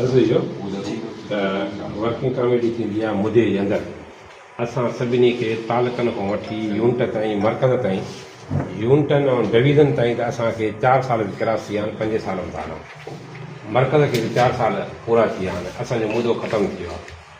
عرض اهو ته ورڪنگ ڪاميٽي ٿيندي آهي مدي جي اندر اسان سڀني کي تعلقن کان وٺي يونٽ تائين مرڪز تائين يونٽن ۽ ڊويزن تائين ته اسان کي چار سال به ڪراس ٿي ويا آهن پنج سال به ٿا هلون مرڪز کي به چار سال پورا ٿي ويا آهن اسان جو مدو ختم ٿي ويو آهي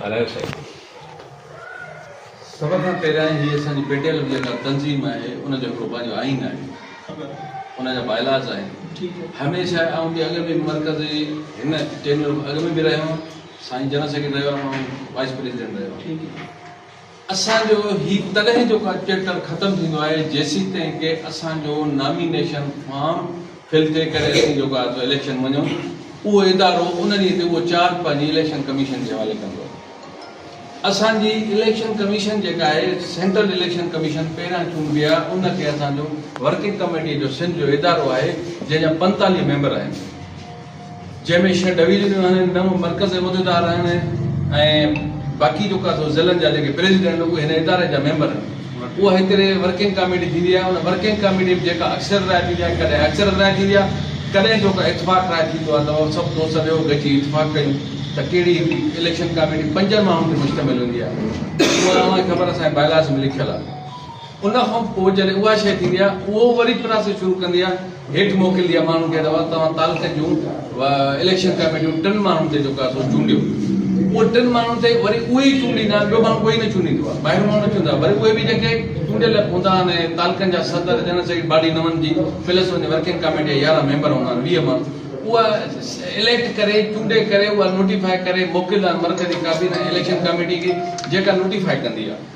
ڳالهايو سائين. سڀ کان پهريائين هي اسان جي پي ٽي ايل جيڪا تنظيم آهي ان جو هڪڙو پنهنجو آئين آهي ان جا باء لاز آهن هميشه آئون به اڳ به مرڪزي هن ٽينيور اڳ ۾ به رهيو هان سائين جنرل سيڪريٽري رهيو هان وائيس پريزيڊنٽ رهيو هان اسان جو هي تڏهن جو چيپٽر ختم ٿيندو آهي جيسيتائين ڪي اسان جو نامينيشن فارم فل ٿئي ڪري اسين جو ڪا ٿو اليڪشن وڃون اهو ادارو ان ڏينهن تي اهو چارج پنهنجي اليڪشن ڪميشن جي حوالي ڪندو اسان جي اليڪشن ڪميشن جيڪا آهي سينٽرل اليڪشن ڪميشن پهريان چونڊبي آهي ان کي اسان جو ورڪنگ ڪميٽي جو سنڌ جو ادارو آهي جنهن جا پنتاليهه ميمبر آهن جنهن ۾ ڇهه ڊويزنيون آهن، نو مرڪزي عهديدار آهن ۽ باقي جيڪا سو ضلعن جا جيڪي پريزيڊنٽ آهن اهي هن اداري جا ميمبر آهن. اها هڪڙي ورڪنگ ڪاميٽي ٿيندي آهي، ان ورڪنگ ڪاميٽي ۾ جيڪا اڪثريت راء ٿيندي آهي، ڪڏهن اڪثريت راء ٿيندي آهي، ڪڏهن جيڪو اتفاق راء ٿيندو آهي ته سڀ دوست ويهو گڏجي اتفاق ڪيون ته ڪهڙي هڪڙي اليڪشن ڪاميٽي پنجن ماڻهن تي مشتمل هوندي آهي. اهو اوهان کي خبر آهي اسان جي باء لاز ۾ لکيل آهي. ان کان پوء جڏهن اها شيء ٿيندي آهي، اهو وري پراسيس شروع ڪندي آهي، هيٺ موڪليندي آهي ماڻهن کي ته اوهان توهان تعلقن جون اليڪشن ڪاميٽيون ٽن ماڻهن تي جيڪو آهي سو چونڊيو. اهي ٽن ماڻهن تي وري اهي ئي چونڊيندا آهن، ٻيو ماڻهو ڪوئي نه چونڊيندو آهي، ٻاهريون ماڻهو نه چونڊيندا آهن، وري اهي به جيڪي چونڊيل هوندا آهن ۽ تعلقن جا صدر، جنرل سيڪريٽري، باڊي نون جي پلس ون جي ورڪنگ ڪاميٽي جا يارهن ميمبر هوندا آهن، ويهه ماڻهو اها اليڪٽ ڪري، چونڊي ڪري، اها نوٽيفاء ڪري موڪليندا آهن مرڪزي ڪابينا ۽ اليڪشن ڪاميٽي کي، جيڪا نوٽيفاء ڪندي آهي.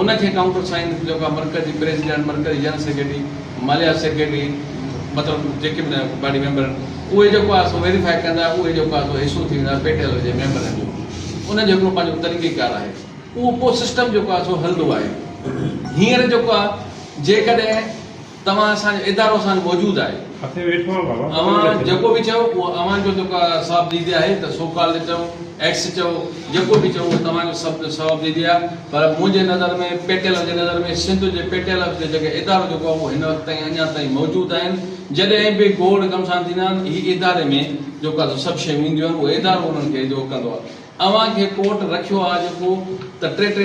ان کي ڪائونٽر سائن جيڪا مرڪزي پريزيڊنٽ، مرڪزي جنرل سيڪريٽري، ماليات سيڪريٽري مطلب جيڪي به باڊي ميمبر آهن اهي جيڪو آهي سو ويريفائي ڪندا اهي جيڪو آهي سو حصو ٿي ويندا پي ٽي ايل جي ميمبرن جو انهن جو هڪڙو پنهنجو طريقي ڪار آهي اهو پوء سسٽم جيڪو آهي سو هلندو آهي هينئر جيڪو آهي جيڪڏهن توهان اسان جو ادارو اسان جو موجود آهي اوهان جيڪو به چئو اهو اوهان جو جيڪو آهي صواب ديدي آهي ته سو ڪالڊ چئو ايڪس چئو جيڪو به چئو اهو توهان جو سڀ جو صواب ديدي آهي پر منهنجي نظر ۾ پيٽيل جي نظر ۾ سنڌ جي پيٽيل جو جيڪي ادارو جيڪو آهي اهو هن وقت تائين اڃان تائين موجود آهن جڏهن به گوڙ گمسان ٿيندا آهن هي اداري ۾ جيڪو آهي سو سڀ شيون اينديون آهن اهو ادارو انهن کي جيڪو ڪندو آهي اوهان کي ڪورٽ رکيو آهي جيڪو ته ٽي ٽي